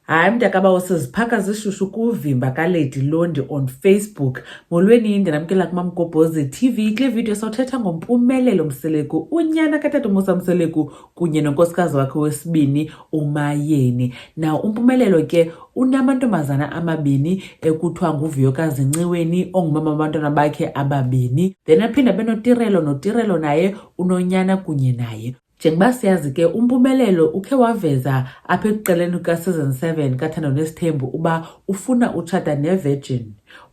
Hayi mntakabawo siziphaka zishushu kuvimba kaledi londi on facebook molweni ndinamkela kumamgobhozi tv kule vidiyo sawuthetha ngompumelelo mseleku unyana katata umusa mseleku kunye nonkosikazi wakhe wesibini umayeni na umpumelelo ke unamantombazana amabini ekuthiwa nguviyokazi nciweni ongumama wabantwana bakhe ababini then aphinde abenotirelo notirelo naye unonyana kunye naye Njengoba siyazi ke uMpumelelo ukhe waveza apha ekuqaleni kuka-season 7 kathando nesithembu uba ufuna utshata nevirgin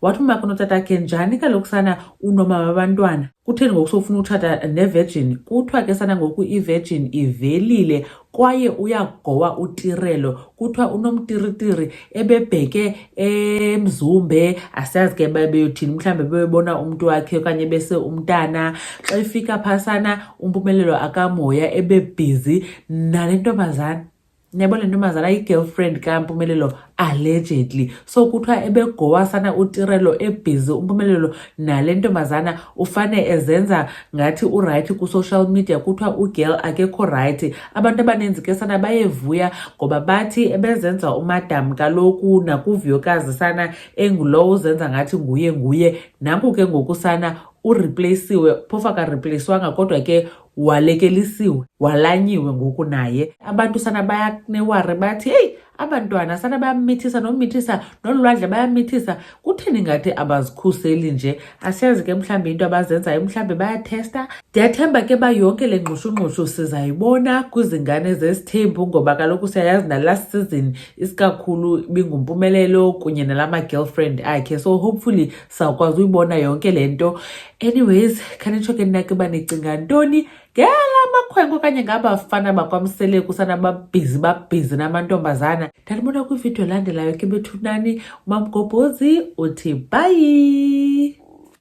wathi umaka unotatakhe njani kaloku sana unomama babantwana kutheni ngoku sofuna utshata nevirgin kuthiwa ke sana ngoku ivirgin ivelile kwaye uyagowa utirelo kuthiwa unomtiritiri ebebheke emzumbe asiyazi ke babeyothini mhlawumbi bebebona umntu wakhe okanye bese umntana xa efika phasana umpumelelo akamoya ebebhizi nale ntombazana niyabo le ntombazana yi-girlfriend kampumelelo allegedly so kuthiwa ebegowasana utirelo ebhizi umpumelelo nale ntombazana ufane ezenza ngathi urayithi kwi-social media kuthiwa ugirl akekho rayithi abantu abaninzi ke sana bayevuya ngoba bathi ebezenza umadam kaloku nakuviyokazi sana engulowo uzenza ngathi nguye nguye nanku ke ngoku sana urepleyisiwe phofu akarepleyiswanga kodwa ke walekelisiwe walanyiwe ngoku naye abantu sana bayaneware bathi heyi abantwana sana bayamithisa nomithisa nolwandle bayamithisa kutheni ngathi abazikhuseli nje asiyazi ke mhlawumbi into abazenzayo mhlawumbi bayathesta ndiyathemba ke ba yonke le ngxushungxushu sizayibona kwizingane zesithembu ngoba kaloku siyayazi nalast season isikakhulu ibingumpumelelo kunye nala ma-girlfriend akhe so hopefully sawukwazi uyibona yonke le nto anyways khanitsho ke nina ke uba nicinga ntoni ngela makhwenkwe okanye ngabafana bakwamseleku sanababhizi babhizi namantombazana ndandibona kwividiyo elandelayo ke bethunani umamgobhozi uthi bayi